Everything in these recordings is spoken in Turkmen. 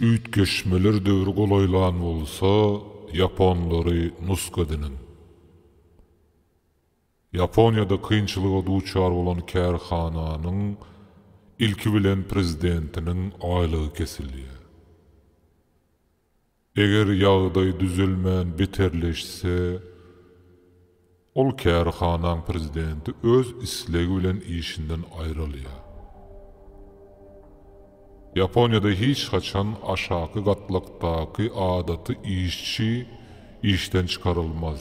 Üýtgeşmeler döwri golaýlan bolsa, ýaponlary nusga ediniň. Ýaponiýada kynçylyga duçar bolan kärhananyň ilki bilen prezidentiniň aýlygy kesilýär. Eger ýagdaý düzelmän beterleşse, Ol kärhanaň prezidenti öz islegi bilen işinden aýrylýar. Ýaponiýada hiç haçan aşaky gatlakdaky adaty işçi işden çykarylmaz.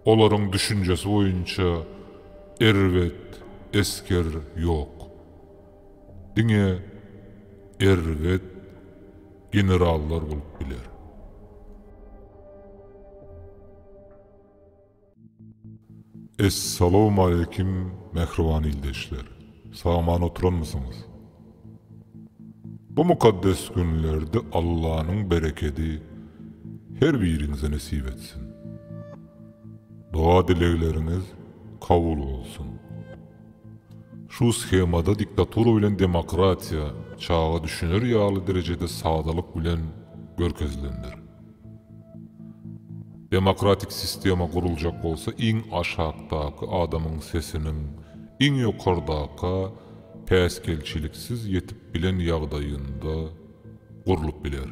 Olaryň düşünjesi boýunça erbet esger ýok. Diňe erbet generallar bolup biler. Essalawmaleýkim mähriban ildeşler! Sag-aman oturanmysyňyz? Bu mukaddes günlerde Allanyň berekedi her biriňize nesip etsin! Doga-dilegleriňiz kabul bolsun! Şu shemada diktatura bilen demokratiýa çaga düşüner ýaly derejede sadalyk bilen görkezilendir. Demokratik sistema guruljak bolsa iň aşakdaky adamyň sesiniň iň ýokardaka päsgelçiliksiz ýetip bilen ýagdaýynda gurlup biler.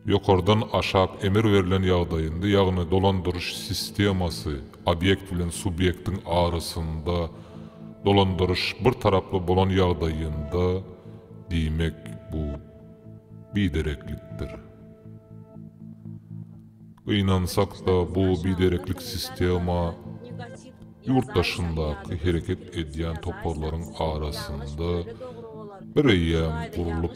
Ýokardan aşak emir berlen ýagdaýynda ýagny dolandyryş sistemasy obýekt bilen subýektiň arasynda dolandyryş bir taraply bolan ýagdaýynda diýmek bu. bidereklikdir. Gynansak-da, bu bidereklik sistema ýurt daşyndaky hereket edýän toparlaryň arasynda bireýýäm gurlup,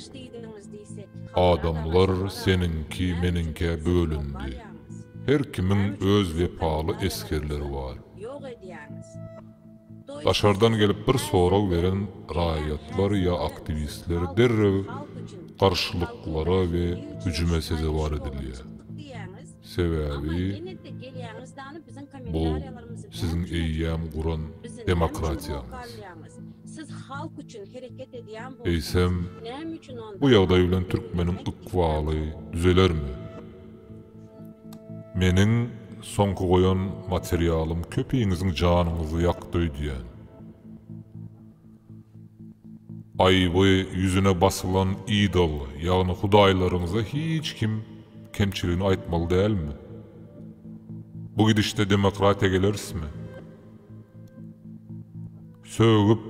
adamlar seniňki, meniňkä bölündi. Her kimiň öz wepaly esgerleri bar. Daşardan gelip bir sorag beren raýatlar ýa aktiwistler derrew garşylyklara we hüjüme sezewar edilýär. Sebäbi bu siziň eýýäm guran demokratiýaňyz. Eýsem, bu ýagdaý bilen türkmeniň ykbaly düzelermi? Meniň soňky goýan materialym köpiňiziň janyňyzy ýakdy öýdýän. Aýby ýüzüne basylan idol ýagny hudaýlaryňyza hiç kim kemçiligini aýtmaly dälmi? Bu gidişde demokratiýa gelerismi? Sögüp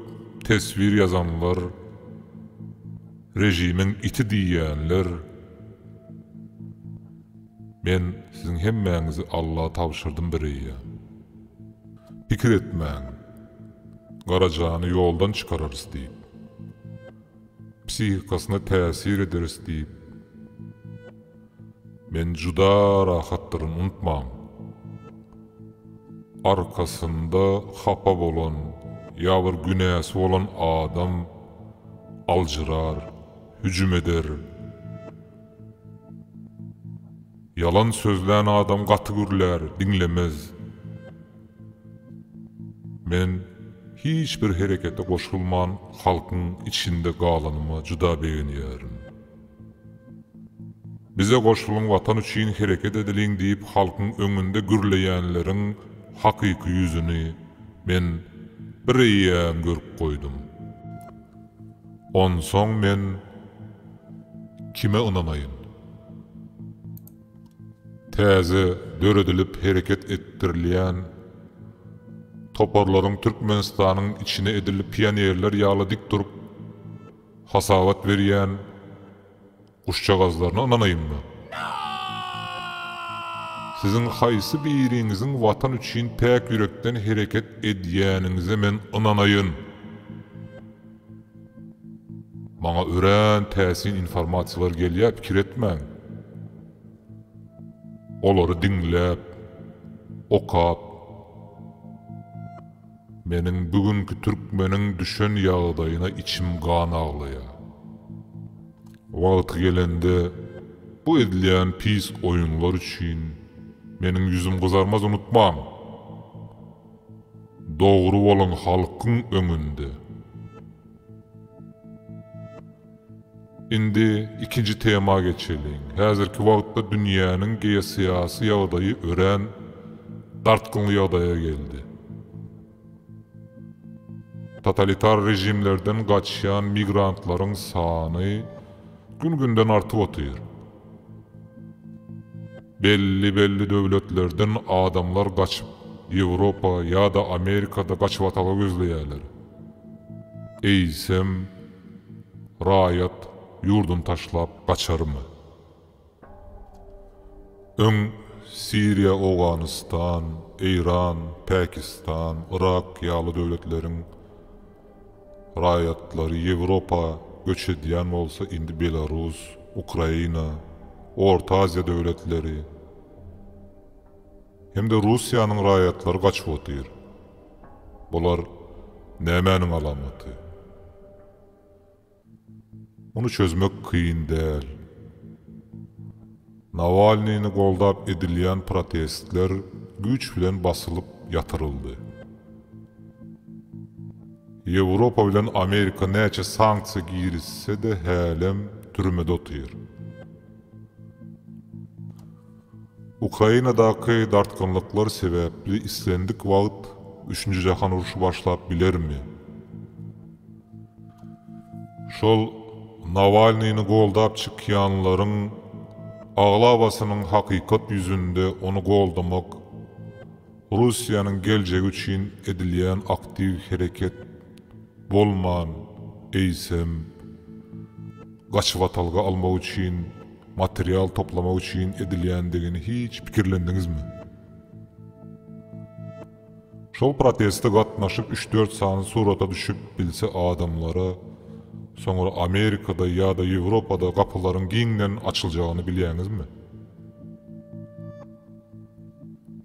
teswir ýazanlar rejimiň iti diýýänler men siziň hemmäňizi Alla tabşyrdym bireýýäm. Pikir etmäň Garajany ýoldan çykararys diýip. Psihikasyna täsir ederis diýip. Men juda rahatdyryn unutmaň. Arkasynda hapa bolan ýa bir günäsi bolan adam aljyrar, hüjüm eder. Ýalan sözlän adam gaty gürlär, diňlemez. Men hiç bir herekete goşulman halkyň içinde galanyma juda begenýärin. Bize goşulyň watan üçin hereket edeliň diýip halkyň öňünde gürleýänleriň hakyky ýüzüni men bir eýýäm görüp goýdum. Onsoň men kime ynanaýyn? Täze döredilip hereket etdirilýän toparlaryň Türkmenistanyň içine edil pionerler ýaly dik durup, Hasabat berýän guşjagazlaryna ynanaýynmy? Siziň haýsy biriňiziň Watan üçin päk ýürekden hereket edýäniňize men ynanaýyn? Maňa örän täsin informasiýalar gelýär, pikir etmäň. Olary diňläp, okap, Meniň bu günki türkmeniň düşen ýagdaýyna içim gan aglaýa. Wagty gelende bu edilýän pis oýunlar üçin meniň ýüzüm gyzarmaz unutmaň. Dogry boluň halkyň öňünde. Indi ikinji tema geçeliň. Häzirki wagtda dünýäniň geosyýasy ýagdaýy örän dartgynly ýagdaýa geldi. Totalitar režimlerden gaçýan migrantlaryň sany gün-günden artyp otyr. Belli-belli döwletlerden adamlar gaçyp Ýewropa ýa-da Amerikada gaçybatala gözleýärler. Eýsem. Raýat ýurduny taşlap gaçarmy? Öň Siriýa, Owganystan, Eýran, Pakistan, Yrak ýaly döwletleriň raýatlary Ýewropa göç edýän bolsa, indi Belarus, Ukraina, Orta Aziýa döwletleri hem-de Russiýanyň raýatlary gaçyp otyr. Bular nämäniň alamaty? Muny çözmek kyn däl. Nawalnyny goldap edilýän protestler güýç bilen basylyp ýatyryldy. Ýewropa bilen Amerika näçe sanksiýa girizse-de hälem türmede otyr. Ukrainadaky dartgynlyklar sebäpli islendik wagt üçünji jahan urşy başlap bilermi? Şol Nawalnyny goldap çykýanlaryň aglabasynyň hakykat ýüzünde ony goldamak, Russiýanyň geljegi üçin edilýän aktiw hereket bolman, eýsem, gaçybatalga almak üçin, material toplamak üçin edilýändigini hiç pikirlendiňizmi? Şol proteste gatnaşyp üç-dört sany surata düşüp bilse adamlara, soňra Amerikada ýa-da Ýewropada gapylaryň giňden açyljagyny bilýäňizmi?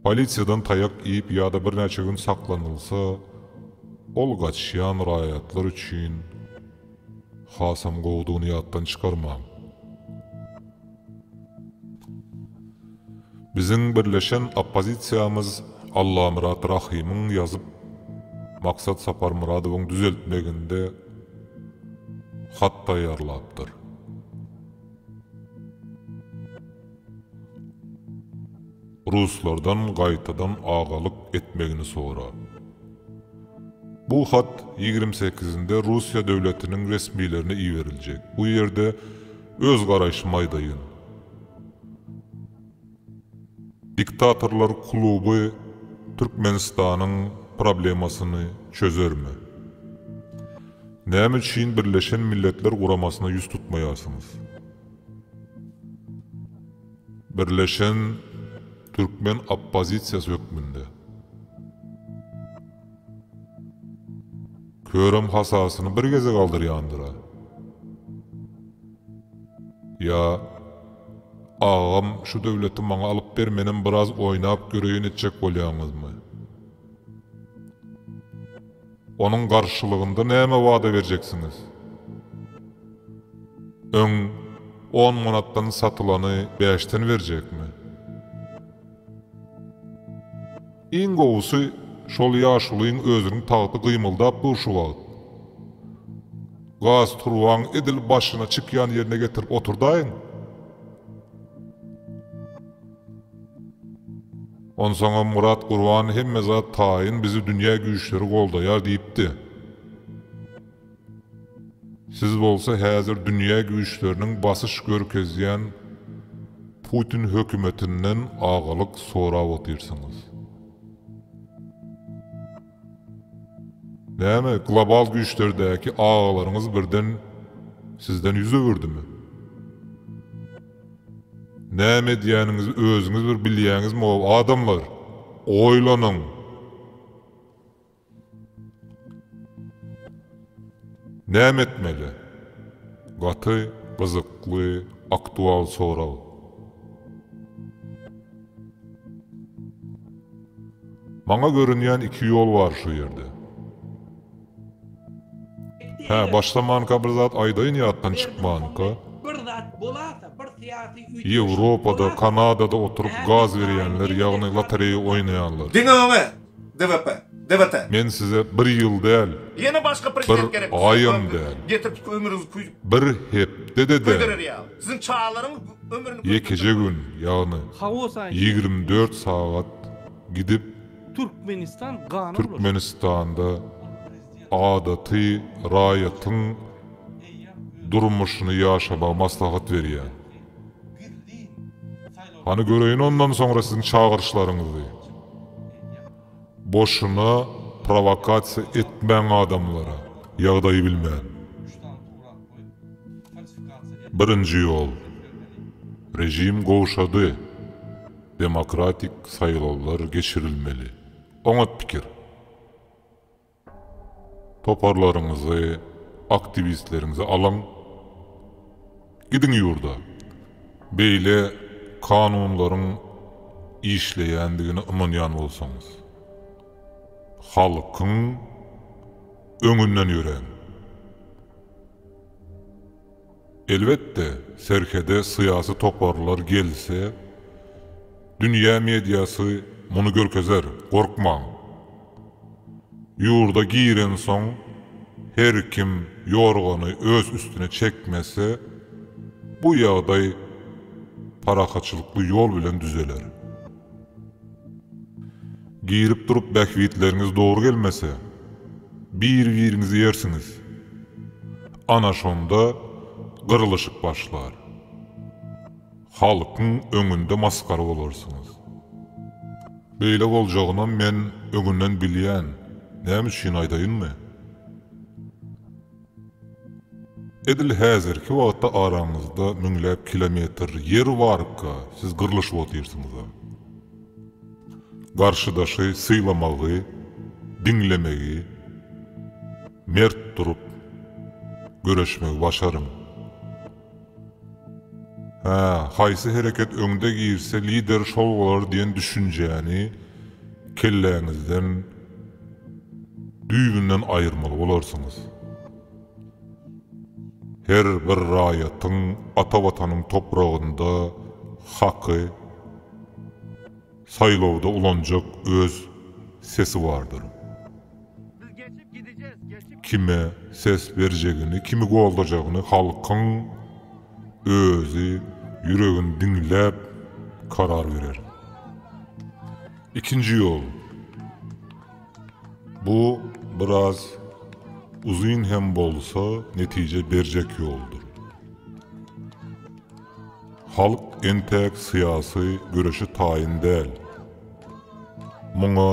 Polisiýadan taýak iýip ýa-da birnäçe gün saklanylsa, ol gaçýan raýatlar üçin hasam gowudygyny ýatdan çykarmaň. Biziň birleşen oppozisiýamyz Allamyrat Rahymyň ýazyp, Maksat Saparmyradowyň düzeltmeginde hat taýýarlapdyr. Ruslardan gaýtadan agalyk etmegini sora. Bu hat ýigrimi sekizinde Russiýa döwletiniň resmilerine iberiljek. Bu ýerde öz garaýşymy aýdaýyn. Diktatorlar kluby Türkmenistanyň problemasyny çözermi? Näme üçin Birleşen Milletler Guramasyna ýüz tutmaýarsyňyz? Birleşen türkmen oppozisiýasy hökmünde. Körem hasasyny bir gezek aldyrýandyr-a. Ýa, agam şu döwleti maňa alyp ber menem biraz oýnap göreýin etjek bolýaňyzmy? Onuň garşylygynda näme wada berjeksiňiz? Öň on manatdan satylany bäşden berjekmi? Iň gowusy, şol ýaşulyň özüniň tagty gymyldap dur şu wagt. Gaz turbaň edil başyna çykýan ýerine getirip oturdaýyň. Onsoňam Myrat Gurban hemme zat taýyn bizi dünýä güýçleri goldaýar diýipdi. Siz bolsa häzir dünýä güýçleriniň basyş görkezýän Putin hökümetinden agalyk sorap otyrsyňyz. Näme, global güýçlerdäki agalaryňyz birden sizden ýüz öwürdimi? Näme edýäniňizi özüňiz bir bilýäňizmi ow adamlar? Oýlanyň! Näme etmeli? Gaty gyzykly aktual sorag. Maňa görünýän iki ýol bar şu ýerde. Hä, başlamanka bir zat aýdaýyn ýatdan çykmanka. Bir zat bolasa, bir syýasy üýtgeşme bolasa. Ýewropada, Kanadada oturyp gaz berýänler, ýagny lotereýa oýnaýanlar. Diňe öňe! DVP! DVT! Men size bir ýyl däl. Ýene başga prezident gerek bizde. Bir aýam däl. Getir tut ömrüňizi küýdür. Bir hepde-de däl. Küýdürer ýaly. Siziň çagalaryňyz ömrüni küýdürjek. Ýekeje gün, ýagny. Hawa, saýyn. Ýigrimi dört sagat gidip Türkmenistan gana bulaşyp. Türkmenistanda adaty raýatyň durmuşyny ýaşamagy maslahat berýär. Hany göreýin ondan soňra siziň çagyryşlaryňyzy. Boşuna prowakasiýa etmäň adamlara, ýagdaýy bilmän. Birinji ýol. Režim gowşady. Demokratik saýlawlar geçirilmeli. Oňat pikir. Toparlaryňyzy, aktiwistleriňizi alyň. Gidiň ýurda. Beýle kanunlaryň işleýändigine ynanýan bolsaňyz. Halkyň öňünden ýöräň. Elbetde, serhede syýasy toparlar gelse, dünýä mediasy muny görkezer, gorkmaň. Ýurda girensoň, her kim ýorgany öz üstüne çekmese, bu ýagdaý parahatçylykly ýol bilen düzeler. Girip durup bähbitleriňiz dogry gelmese, bir-biriňizi ýersiňiz. Ana şonda gyrlyşyk başlar. Halkyň öňünde masgara bolarsyňyz. Beýle boljagynam men öňünden bilýän, näme üçin aýdaýynmy? Edil häzirki wagtda araňyzda müňläp kilometr ýer barka siz gyrlyşyp otyrsyňyz-a. Garşydaşy sylamagy, diňlemegi, mert durup, göreşmegi başaryň. Hä, haýsy hereket öňde girse lider şol bolar diýen düşünjäni kelläňizden düýbünden aýyrmaly bolarsyňyz. Her bir raýatyň ata Watanyň topragynda haky. Saýlawda ulanjak öz sesi bardyr. Kime ses berjegini, kimi goldajagyny halkyň özi ýüregini diňläp karar berer. Ikinji ýol, bu biraz uzyn hem bolsa netije berjek ýoldur. Halk entäk syýasy göreşe taýyn däl. Muňa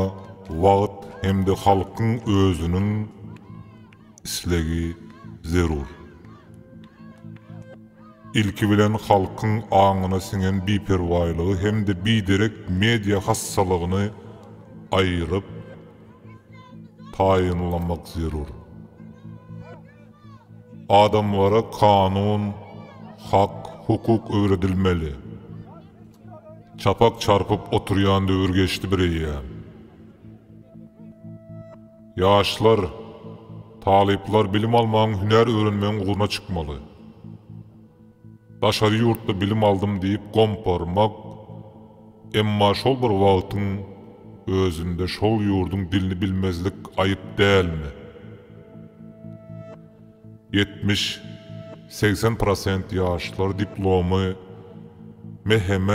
wagt hem-de halkyň özüniň islegi zerur. Ilki bilen halkyň aňyna siňen biperwaýlygy hem-de biderek media hassalygyny aýryp taýynlamak zerur. Adamlara kanun, hak, hukuk öwredilmeli. Çapak çarpyp oturýan döwür geçdi bireýýäm. Ýaşlar, talyplar bilim almagyň, hünär öwrenmegiň ugruna çykmaly. Daşary ýurtda bilim aldym diýip gomparmak, emma şol bir wagtyň özünde şol ýurduň dilini bilmezlik aýyp dälmi? Ýetmiş, segsen prosent ýaşlar diplomy MHM,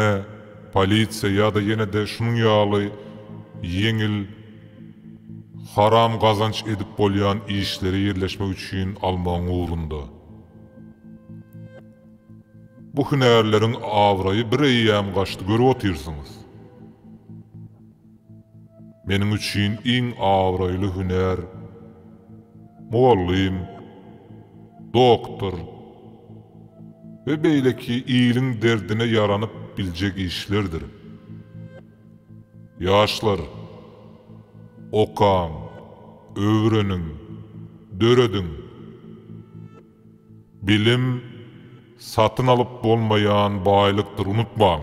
polisiýa ýa-da ýene-de şunuň ýaly ýeňil, haram gazanç edip bolýan işlere ýerleşmek üçin almagyň ugrunda. Bu hünärleriň abraýy bir eýýäm gaçdy görüp otyrsyňyz. Meniň üçin iň abraýly hünär mugallym, doktor we beýleki iliň derdine ýaranyp biljek işlerdir. Ýaşlar, okaň, öwreniň, dörediň! Bilim satyn alyp bolmaýan baýlykdyr, unutmaň!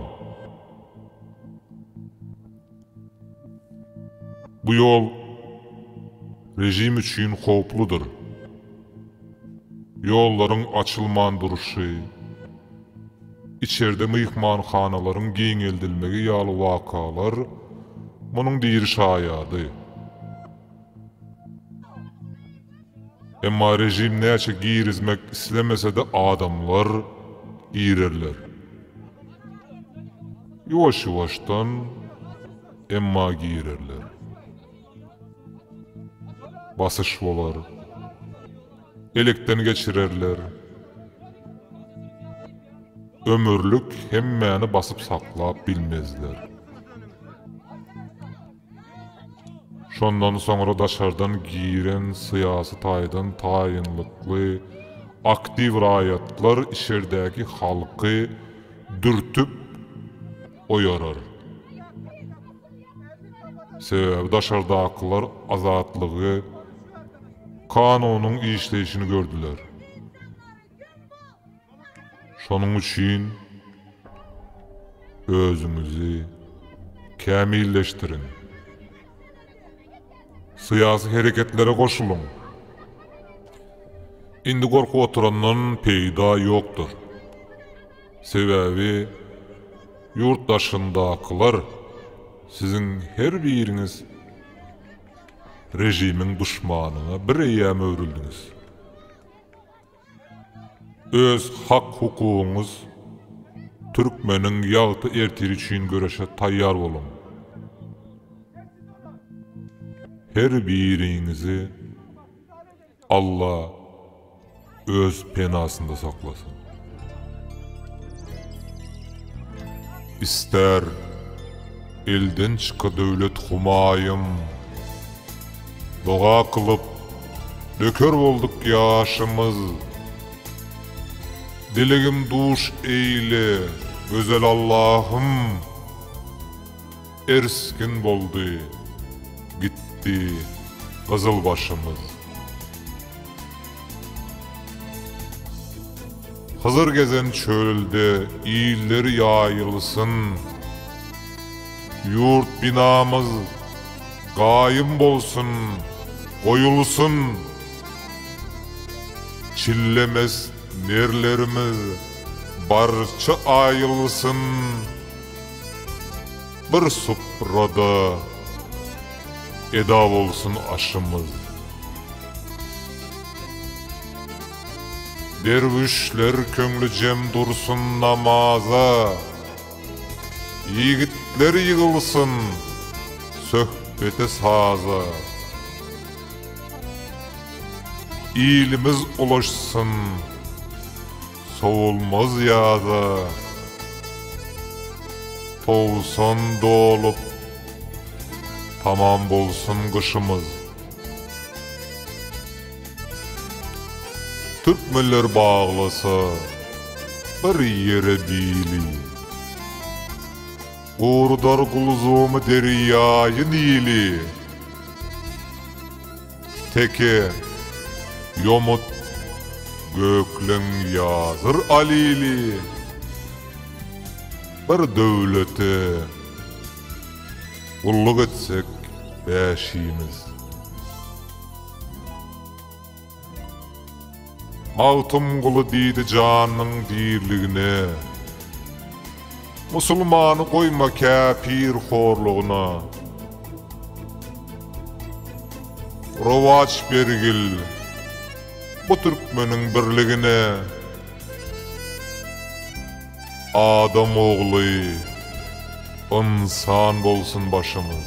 Bu ýol režim üçin howpludyr. Ýollaryň açylman durşy. Içerde myhmanhanalaryň giňeldilmegi ýaly wakalar munuň diri şaýady. Emma režim näçe girizmek islemese-de adamlar girerler. Ýuwaş-ýuwaşdan, emma girerler. Basyş bolar. Elekden geçirerler. Ömürlik hemmäni basyp saklap bilmezler. Şondan soňra daşardan giren syýasy taýdan taýynlykly aktiw raýatlar içerdäki halky dürtüp oýarar. Sebäbi daşardakylar Azatlygy KANU-nyň işleýşini gördüler. Şonuň üçin özüňizi kämilleşdiriň. Syýasy hereketlere goşulyň. Indi gorkup oturandan peýda ýokdur. Sebäbi ýurt daşyndakylar siziň her biriňiz režimiň duşmanyna bir eýýäm öwrüldiňiz. Öz hak-hukugyňyz türkmeniň ýagty ertiri üçin göreşe taýýar boluň. Her biriňizi. Alla öz penasynda saklasyn. Ister elden çyka döwlet humaýym Doga kylyp döker bolduk ýaşymyz Dilegim duş eýle gözel Allahym. Ersgin boldy, gitdi gyzyl başymyz. Hyzyr gezen çölde illeri ýaýylsyn, Ýurt binamyz gaýym bolsun, goýulsyn. Çillemez nerlerimiz barça aýylsyn. Bir suprada eda bolsun aşymyz. Derwüşler köňli jem dursun namaza. Ýigitler ýygylsyn söhbete-saza. Ilimiz ulaşsyn. Sowulmaz ýaza towsan dolup tamam bolsun gyşymyz. Türkmenler baglasa bir ýere bili. Gurdar gulzumy derýaýy Nili. Teke, ýomut, gökleň ýazyr alili. Bir döwlete gulluk etsek bäşimiz. Magtymguly diýdi janyň diriligine. Musulmany goýma käpir horlugyna. Rowaç bergil bu türkmeniň birligine. Adam ogly ynsan bolsun başymyz.